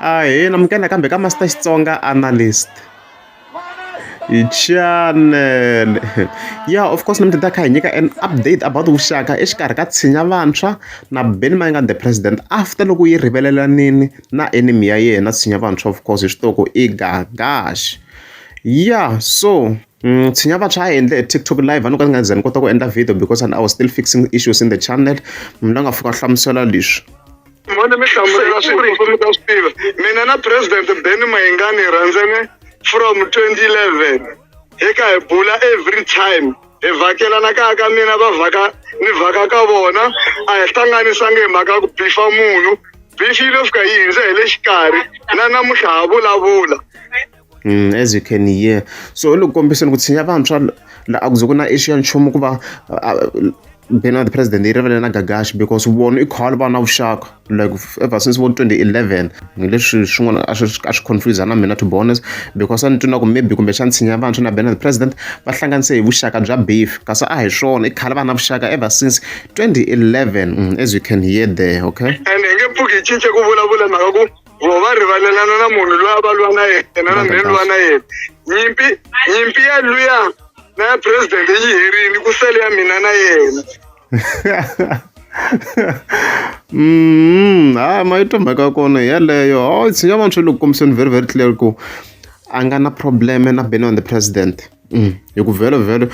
Ahee, namukela kambe ka Master Xitsonga Analyst. Hi channel. Yeah, of course, namukela kha hi nyika an update about vuxaka exikarhi ka tshinya vantshwa na Benny Mayengani the president after loko yi rivelelanini na enemy ya yena tshinya vantshwa of course hi xitoko i Gagash. Yeah, so Mm, tshinya vantshwa a endle tiktok live a ni ka ni nga ze ni kota ku endla video because i was still fixing issues in the channel munhu la nga fika hlamusela leswi N'wana mi hlamusela swi ri mi ta swi tiva mina na president Benny Mayengani hi rhandzene from 2011 hi ka hi bula every time hi vhakelana kaya ka mina va vhaka ni vhaka ka vona a hi hlanganisangi hi mhaka ku bifa munhu bifi yi lo fika yi hindze hi le xikarhi na namuntlha ha vulavula Mm, as you can hear so loko kombiseni ku tshinya vantshwa la a ku ze ku na issue ya nchumu ku va being the president yi rivele na gagashi because vona i khale va na vuxaka like ever since vo 2011 ngileswi swin'wana a swi confuse na mina to be honest because a ni twina ku maybe kumbe xa ntshinya vantshwa na being the president va hlanganise hi vuxaka bya beef kasi a hi swona i khale va na vuxaka ever since 2011 mm, as you can hear there okay and hi nge pfuki yi cince ku vulavula mhaka ku vo va rivalelana na munhu loyi a va lwa na yena na mhe lwa na yena nyimpi nyimpi ya luya na ya president yi herini ku sele ya mina na yena mm ha ma yi to mhaka ya kona yeleyo o oh, tshinya vanhu swi le ku kombiseni very very clear ku a nga na problem na beni on the president mm. hi ku vhelo vhelo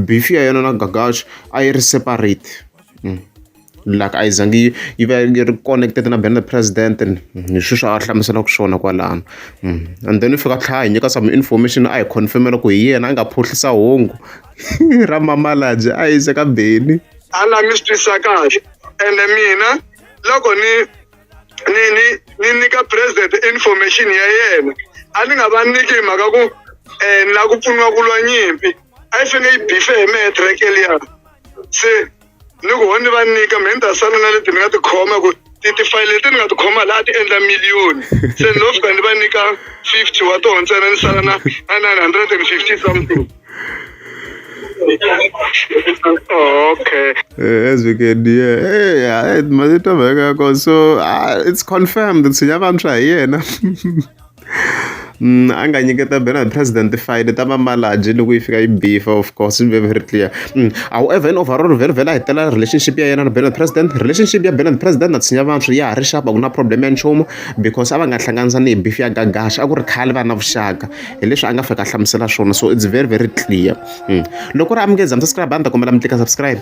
beef ya yena na gagash a yi ri separate mm. la ka a yi zangi yi yi va yi ri connected na banner president and hi swi swa a hlamuselaka swona kwalano and then u fika a tlhela a hi nyika some information a hi confirm-ela ku hi yena a nga phuhlisa hungu ra mamalabye a yi ze ka beni a la mi swi twisisa kahle ende mina loko ni ni ni ni nyika president information ya yena a ni nga va nyiki hi mhaka ku um ni lava ku pfuniwa ku lwa nyimpi a yi fanele yi bife hi mehe track eliya se ni ku ho ni va nyika mina ni ta sala na leti ni nga ti khoma ku tifayele leti ni nga ti khoma laha ti endla miliyoni se ni lo fika ni va nyika fifty wa tona ntsena ni sala na na nine hundred and fifty something okay eh, as we can hear hey, hey, mazito veka so uh, it's confirmed sinyavantshwa hi yena a nga nyiketa bela hi president file ta va malaji loko yi fika yi bifa of course swi ve very clear however in overall vhele vhele a hetelela relationship ya yena na bela president relationship ya bela president na tshinya vantshwa ya ha ri xapa ku na problem ya nchumu because a va nga hlanganisa ni hi bifi ya gagaxa a ku ri khale va na vuxaka hi leswi a nga fika a hlamusela swona so it's very very clear loko ri amukeza mi subscribe a ni ta kombela mi tlika subscribe